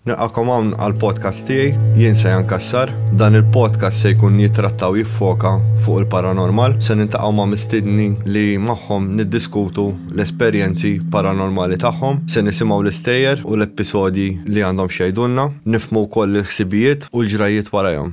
Nilqakom hawn għal podcast tiegħi, jien se jankassar. Dan il-podcast se jkun jitrattaw jiffoka fuq il-paranormal, se nintaqgħu ma' mistidni li magħhom niddiskutu l-esperjenzi paranormali tagħhom, se nisimgħu l-istejjer u l-episodji li għandhom xejdulna, nifmu wkoll il-ħsibijiet u l-ġrajiet warajhom.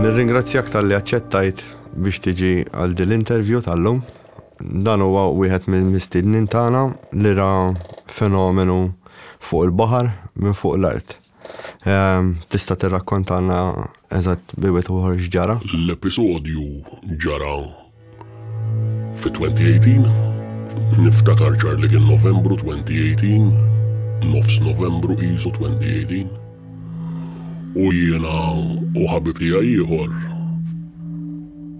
Nirringrazzjak tal-li aċċettajt biex tiġi għal din l-intervju tal-lum. Dan huwa wieħed mill-mistednin tagħna li ra fenomenu fuq il-baħar minn fuq l-art. Ehm, tista' tirrakkontalna eżatt biwet uħor x'ġara? L-episodju ġara Fi 2018, niftakar ċar li kien Novembru 2018, nofs Novembru qisu 2018, u jiena u ħabib tiegħi ieħor.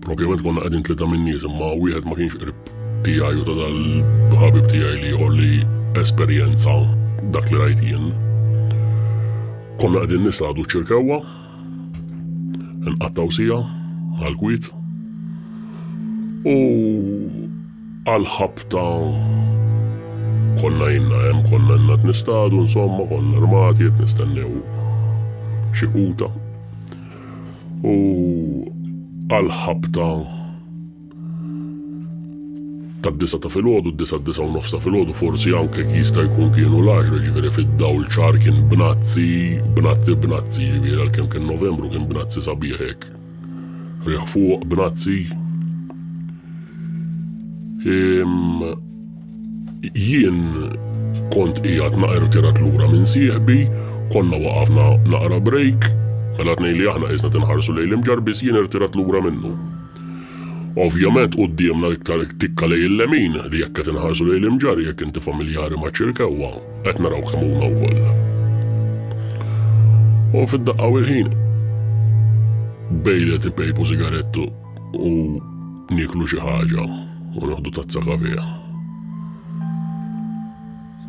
Propjament konna qegħdin tlieta minn nies imma wieħed ma kienx qrib tiegħi u ta' dal-ħabib tiegħi li ieħor li esperjenza dak li rajt jien. Konna qegħdin nisgħadu ċirkewwa Nqattgħu sija għall-kwiet u għall-ħabta konna jinna hemm konna jenna t-nistadu, insomma konna armati qed nistennew xi quta. U għall-ħabta tad-disgħa ta' filgħodu, d-disgħa d-disgħa u nofs ta' filgħodu, forsi anke jista' jkun kienu l-għaxra, ġifieri fid-dawl ċar kien bnazzi, bnazzi, bnazzi, ġifieri għalkemm kien Novembru kien bnazzi sabiħ hekk. Riħ fuq, bnazzi. Jien kont qiegħed naqra tirat lura minn sieħbi, konna waqafna naqra break, mela tnejn li aħna qisna tinħarsu lejl imġarbis jien irtirat lura minnu. Ovvjament quddiemna l-iktar tikka lejn il-lemin li jekk qed inħarsu lejn l-imġarr, jekk inti familjari maċ-Ċirkewwa, qed naraw kemm huma wkoll. U fid-daqqa u l-ħin bejlet ipejpu sigarettu u nieklu xi ħaġa u neħdu tazza kafè.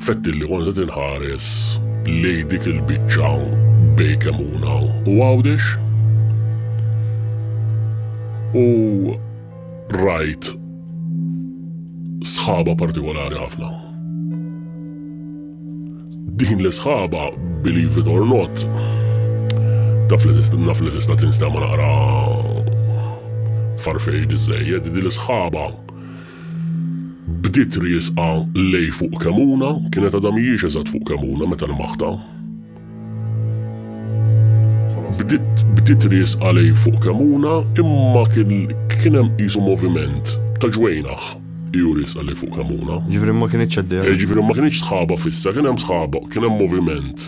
Fettil li kont qed inħares lejn dik il-biċċa bejn Kemmuna u Għawdex u rajt sħaba partikolari ħafna. Din l-sħaba, believe it or not, taf li naf li tista' tinstema naqra farfeġ diżejjed, din l-sħaba Bdiet riesqa lejn fuq Kemuna, kienet għadha mhijiex eżatt fuq Kemuna meta lmaħtha. Bdiet bdiet riesqa lejn fuq Kemuna imma kien kien hemm qisu moviment ta' ġwejnaħ iju riesqa lejn fuq Kemuna. Ġifieri ma kinitx għaddejja. Ġifieri ma kinitx sħaba fissa, kien hemm sħaba, kien hemm moviment.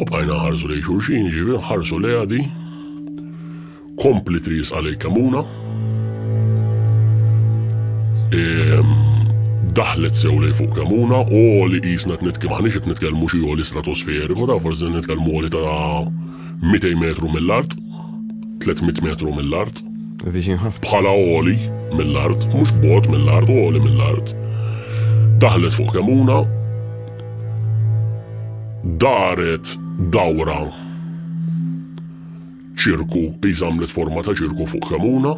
U bqajna nħarsu lejn xulxin, jiġifieri nħarsu lejha di. Kompli triesqa lejn Kamuna. Ehm, daħlet sew lejn fuq Kamuna, u li qisna qed nitkellmu aħniex qed nitkellmu xi għoli stratosferiku, ta' forsi nitkellmu għoli ta' 200 metru mill-art, 300 metru mill-art. Bħala għoli mill-art, mhux bot mill-art, għoli mill-art. Daħlet fuq Kamuna, Daret dawra ċirku, qis għamlet forma ta' ċirku fuq kemuna.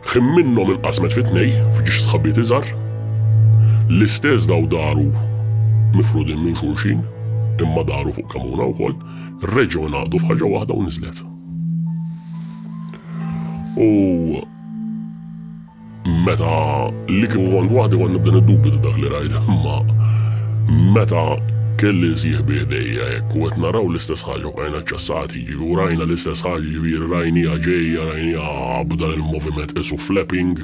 Ħin minnhom inqasmet fi tnej, f'ġiex sħabiet iżgħar. L-istess daw daru mifrudin minn xulxin, imma daru fuq kemuna wkoll, reġgħu ngħaqdu f'ħaġa waħda u niżlet. U Meta li kieku kont waħdi kont nibda niddubita dak li rajt, imma meta kelli nsieħbi ħdejja hekk u qed naraw l-istess ħaġa bqajna ċċassati, jiġifieri u rajna l-istess ħaġa jiġifieri rajniha ġejja, rajniha b'dan il-moviment qisu flapping,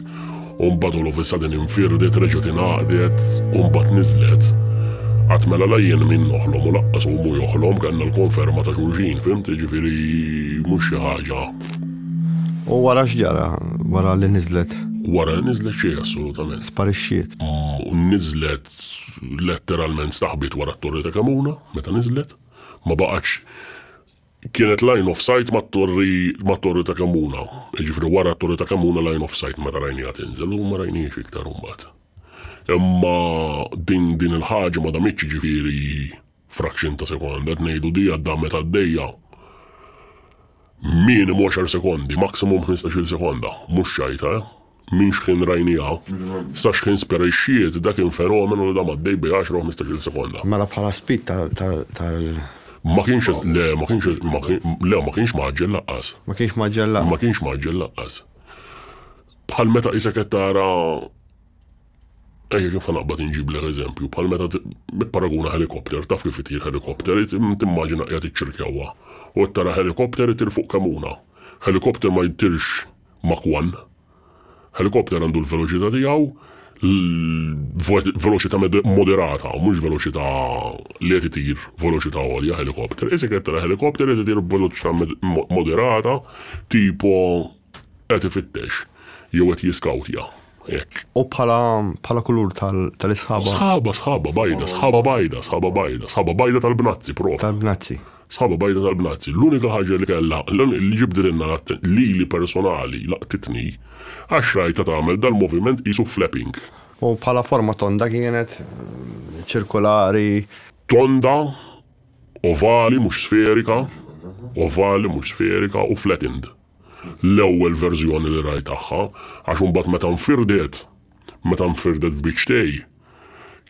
u mbagħad all of a sudden infirdet, reġgħet ingħaqdet, u mbagħad niżlet. Qatt mela la jien min noħlom u laqqas hu mhu joħlom, kellna l-konferma ta' xulxin, fimt? Jiġifieri mhux xi ħaġa U wara x'ġara wara li niżlet? Wara li niżlet xejn assolutament. Sparixxiet. U niżlet letteralment saħbit wara t-torri ta' Kamuna meta niżlet. Ma baqgħetx kienet line of sight mat-torri mat-torri ta' Kamuna. Jiġifieri wara t-torri ta' Kamuna line of sight meta rajniha tinżel u ma rajnihiex iktar imbagħad. Imma din din il-ħaġa ma damitx jiġifieri Fraction ta' sekonda qed ngħidu di għad-damme tad-dejja. Minimu għaxar sekondi, maximum ħmistax-il sekonda. Mhux xajta, eh? Minn xħin rajniha, sa xħin sperixxiet, da kien fenomenu li dam għaddej bej għaxra u ħmistax-il sekonda. Mela bħala speed tal. Ma kienx, le, ma kienx, le, ma kienx mgħaġġel laqqas. Ma kienx mgħaġġel laqqas. Ma kienx mgħaġġel laqqas. Bħal meta qisek qed tara Ejja kif ħanaqbad inġiblek eżempju, bħal meta tipparaguna ħelikopter, taf kif itir ħelikopter, timmaġina qiegħed iċċirkjawha u qed tara ħelikopter itir fuq kemuna. Ħelikopter ma jtirx Mach 1. Ħelikopter għandu l-veloċità tiegħu, veloċità moderata, mhux veloċità li qed itir veloċità għolja ħelikopter. Isek qed tara ħelikopter qed itir b'veloċità moderata, tipo Qed ifittex jew qed jiskawtja, hekk. U bħala, bħala kulur tal, tal-isħaba? Sħaba, sħaba bajda, sħaba bajda, sħaba bajda, sħaba bajda tal-bnazzi propju. Tal-bnazzi. Sħaba bajda tal-bnazzi. L-unika ħaġa li kellha, li ġibdililna l-att, lili personali laqtitni, għax rajtha tagħmel dal-moviment qisu flapping. U bħala forma tonda kienet, ċirkolari? Tonda, ovali mhux sferika, ovali mhux sferika u flattened. l-ewwel verżjoni li rajt tagħha, għax imbagħad meta nfirdet, meta nfirdet f'biċċtej,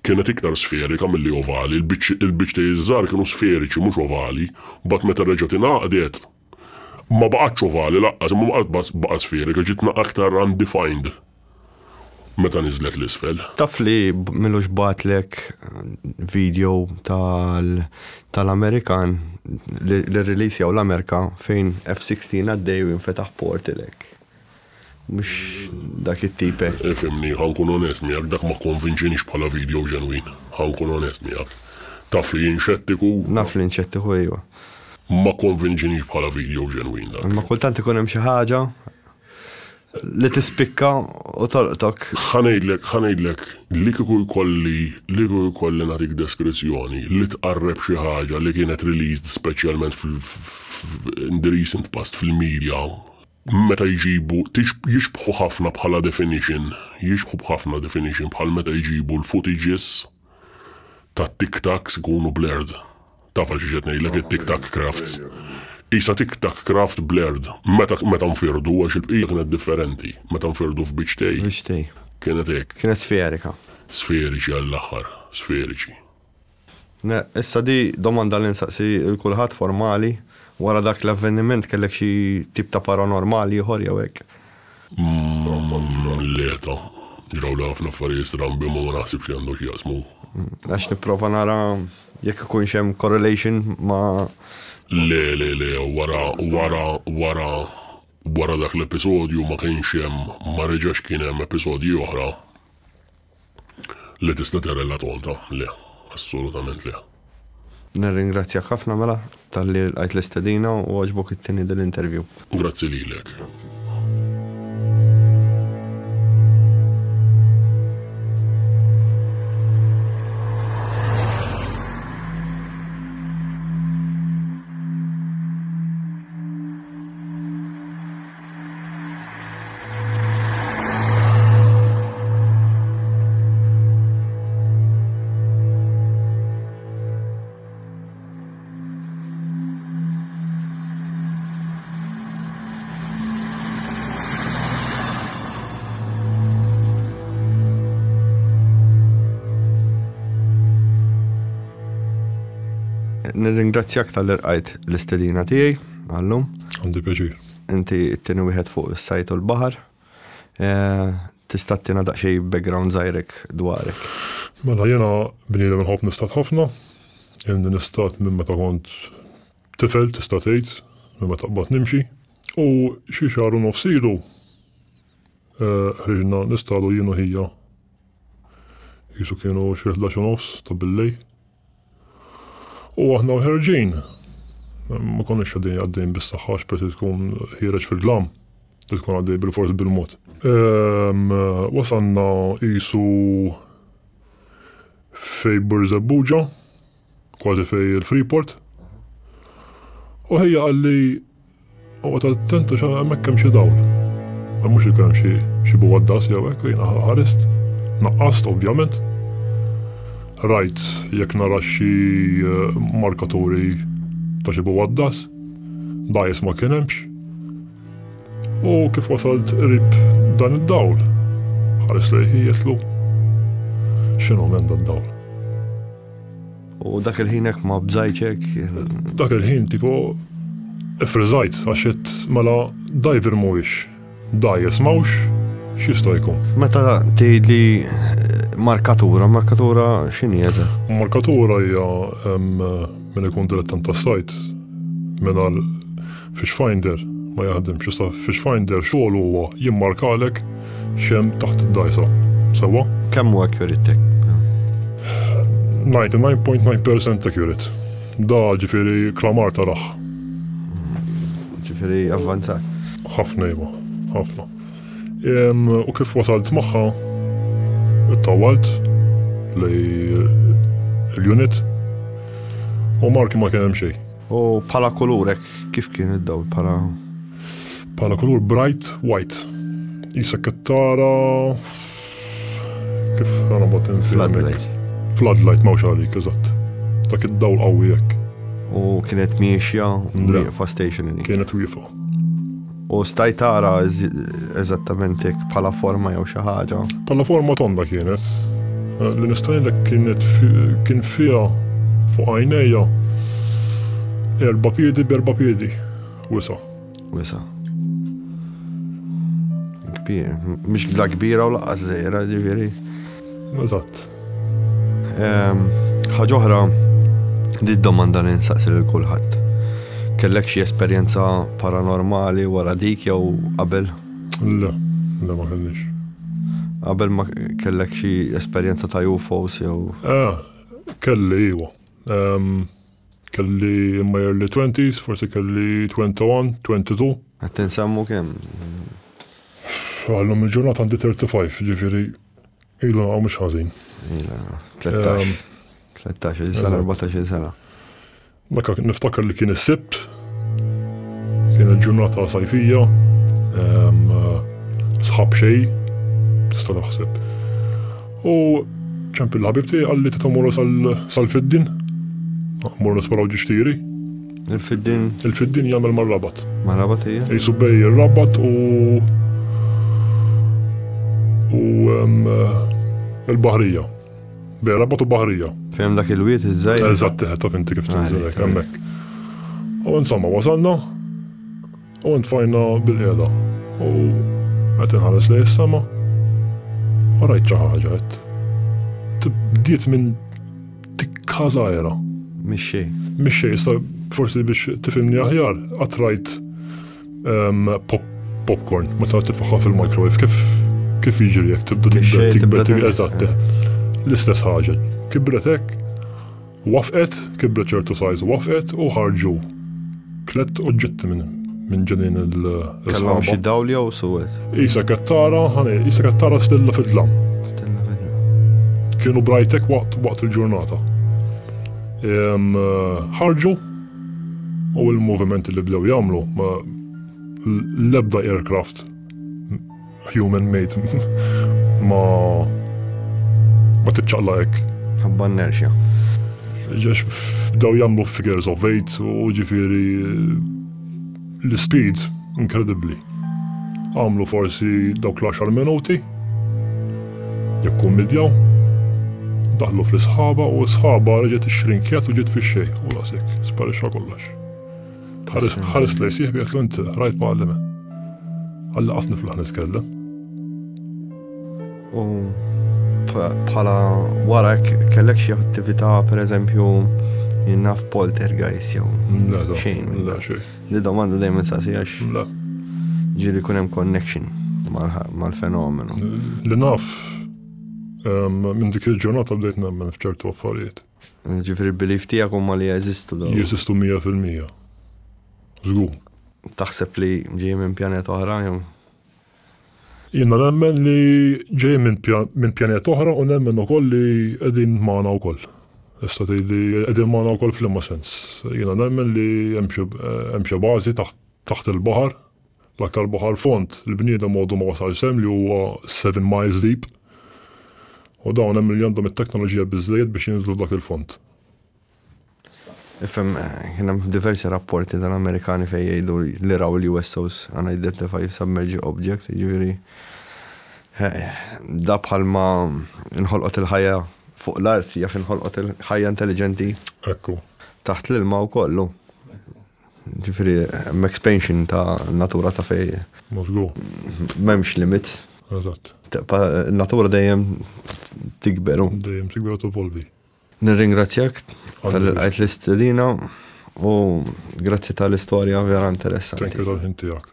kienet iktar sferika milli ovali, il-biċċtej iż-żgħar kienu sferiċi mhux ovali, mbagħad meta reġgħet ingħaqdet, ma baqgħetx ovali laqqas imma baqgħet sferika, ġiet aktar undefined. Meta niżlet l-isfel. Taf li m'ilux bagħtlek video tal tal-Amerikan li li releasjaw l-Amerika fejn F-16 għaddej u jinfetaħ portal hekk. Mhux dak it-tip hekk. Ifhimni, ħa nkun onest miegħek, dak ma kkonvinċienix bħala video ġenwin. Ħa nkun onest miegħek. Taf li jien xettiku. Naf li int xettiku, ejwa. Ma kkonvinċienix bħala video ġenwin dak. Imma kultant ikun hemm xi ħaġa. Li tispikka u tolqtok. Ħa ngħidlek, ħa ngħidlek, li kieku jkolli, li kieku jkolli nagħtik deskrizzjoni li tqarreb xi ħaġa li kienet released speċjalment f, in the recent past fil-media, meta jġibu, jixbħu ħafna bħala definition, jixbħu b'ħafna definition bħal meta jġibu l-footages, ta' Tic Tacs ikunu blurred. Tafha xiex qed ngħidlek it-Tic Tac crafts. Qisha Tic Tac craft blurred meta meta nfirdu għax il-bqija kienet differenti. Meta nfirdu f'biċ tei. Biċ tei. Kienet hekk. Kienet sferika. Sferiċi għall-aħħar. Sferiċi. Ne, issa di domanda li nsaqsi il kulħadd formali, wara dak l-avveniment kellek xi tip ta' paranormal ieħor jew hekk? Mill-eta, ġrawli ħafna affarijiet strambi ma ma naħsibx li għandhom x'jaqsmu. Għax nipprova nara jekk ikunx hemm correlation ma. Le, le, le, wara, wara, wara, wara dak l-episodju ma kienx hemm, ma reġax kien hemm episodji oħra. Le tista tera la tonta le assolutament le. Nirringrazzjak ħafna mela talli lqajt l-istedina u għoġbok ittini dil interview. Grazzi lilek. nirringrazzjak tal-irqajt l-istedina tiegħi għallum. Għandi pjaċir. Inti t-tieni wieħed fuq is-sajt u l-baħar. Tista' tina daqsxej background żgħirek dwarek. Mela jiena bniedem inħobb nistat ħafna. Ilni nistat minn meta kont tifel tista' tgħid, minn meta qbadt nimxi. U xi xahar u nofs ilu ħriġna nistadu jien u ħija. Qisu kienu xi ħdax u nofs ta' billejl. U aħna l-ħerġin, ma konniex għaddejn għaddejn bis-saħħa x'pret li tkun ħiereġ fil-glam, li tkun għaddej bil-fors bil-mod. Ehm, wasanna qisu fej Burzebbuġa, kważi fej il-Freeport. U ħejja qalli Oqgħod attentu xa hemmhekk hemm xi dawl. Ma mhux ikun hemm xi xi buwaddas jew hekk jiena ħarist. Naqqast ovvjament. Rajt jekk nara xi eh, markaturi ta' xi buwaddas. Dajjes ma kien hemmx. U kif wasalt qrib dan id-dawl, ħares lejħi jitlu. X'inhu minn dan dawl? U dak il-ħin hekk ma bżajtx hekk. Dak il-ħin tipo ifriżajt għax qed mela dajver mhuwiex dajes mawx x'jista' jkun. Meta tgħidli eh, markatura, markatura x'inhi eża? Markatura hija minn ikun dilettant tas-sajt mingħajr Fish Finder ma jaħdimx issa Fish Finder xogħol huwa jimmarkalek xem taħt id-dajsa. Sewa? Kemm huwa accurate? 99.9% accurate. Da ġifieri klamar taraħ. Ġifieri avvanzat. Ħafna iva, ħafna. U kif wasalt magħha, it-tawalt li l-unit u marki ma kien hemm xejn. U bħala kulur hekk kif kien id-dawl bħala? Bħala kulur bright white. Jisek qed tara kif għana bat Floodlight. Floodlight mawx għalik, eżatt. Dak id-dawl qawwi hekk. U kienet miexja wieqfa stationary. Kienet wieqfa. U stajt tara eżattament hekk bħala forma jew xi ħaġa? Bħala forma tonda kienet. Eh, li nistajlek kienet kien fiha fuq għajnejja erba' piedi b'erba' piedi wisa. Wisa. Kbir, mhix la kbira u laqas żejra ġifieri. Eżatt. Ehm, ħaġa oħra, di domanda li nsaqsi lil kulħadd. Kellek xi esperjenza paranormali wara dik jew qabel? Le, le ma kellix. Qabel ma kellek xi esperjenza ta' UFOs jew? Eh, kelli iwa. Ehm, kelli in my early 20s, forsi kelli 21, 22. Qed tinsemmu kemm? Għallum il-ġurnata għandi 35, ġifieri Ilu naqaw mux ħazin. 13. 13 sena, 14 sena. Dakka niftakar li kien is-sibt, kien il-ġurnata sajfija, sħab xej, tista' naħseb. U ċempil ħabib tiegħi qalli tita' morru sal-fiddin, morru nisparaw ġixtiri. Il-fiddin. Il-fiddin jagħmel mar-rabat. Mar-rabat hija? Isu bej ir-rabat u u il-baħrija. Bej rabat u baħrija. Fem dak il-wiet iż-żejr. Eżatt, ta' finti kif tinżilek hemmhekk. U insomma wasalna U ntfajna bil-qeda. U qed inħares lej is-sema. U rajt xi ħaġa qed. Tibdiet minn tikka żgħira. Mixxej. Mixxej, issa forsi biex tifimni aħjar, qatt rajt ehm, pop popcorn, ma ta' tifaħħa fil-microwave, kif kif jiġri jekk tibda tikber tikber eżatt. L-istess ħaġa. Kibret hekk Wafqet, kibret ċertu sajz wafqet u ħarġu tlet oġġetti minn minn ġenin il-sħaba. Kellhom xi dawl jew suwed. Isa kettara, ħani, isa kettara stilla fid-dlam. Stilla fid-dlam. Kienu brajtek waqt waqt il-ġurnata. Ħarġu u il-movimenti li bdew jagħmlu l-ebda aircraft Human made. Ma. Ma tiċċaqla hekk. Ħabba nerxja. Ġex daw jagħmlu figures of eight u ġifieri l-speed inkredibbli. Għamlu forsi dawk l-10 minuti jekk kummedjaw daħlu fl-isħaba u sħaba reġet ix-xrinkjat u ġiet fix-xej u rasek, sparixxa kollox. Tħares lej sieħbi jekk int ħrajt mgħallime. Għalla qas niflaħ nitkellem. U bħala wara kellek xi attività pereżempju jinnaf poltergeist jew. Xejn. La xejn. Li domanda dejjem insaqsi għax. La. Ġiri kun hemm connection mal-fenomenu. Li naf minn dik il-ġurnata bdejt nemmen f'ċertu affarijiet. Ġifieri l-belief tiegħek huma li jeżistu dawn? Jeżistu mija fil-mija. Żgur. Taħseb li ġej minn pjaneta oħra jew? Jiena nemmen li ġej minn pjaneta oħra u nemmen ukoll li qegħdin magħna wkoll. Issa tgħidli qegħdin magħna wkoll f'liema sens. Jiena nemmen li hemm xi bażi taħt il-baħar L-aktar baħar fond li bniedem għodu ma wasalx hemm li huwa seven miles deep. U dawn hemm li għandhom it-teknoloġija biżżejjed biex jinżlu f'dak il-fond. Ifhem, kien hemm diversi rapporti tal-Amerikani fejn jgħidu li raw l-USOs, unidentified submerged object, jiġifieri da bħalma nħolqot il-ħajja fuq l-art jaf inħolqot il-ħajja intelliġenti. Ekku. Taħt l-ilma u kollu. Ġifiri, expansion ta' natura ta' fej. Mozgu. Memx limit. Eżatt. Natura dejjem tikberu. Dejjem tikberu tovolvi. Nirringrazzjak tal-għajt l-istedina u grazzi tal-istoria vera interessanti. Thank you tal-ħin tijak.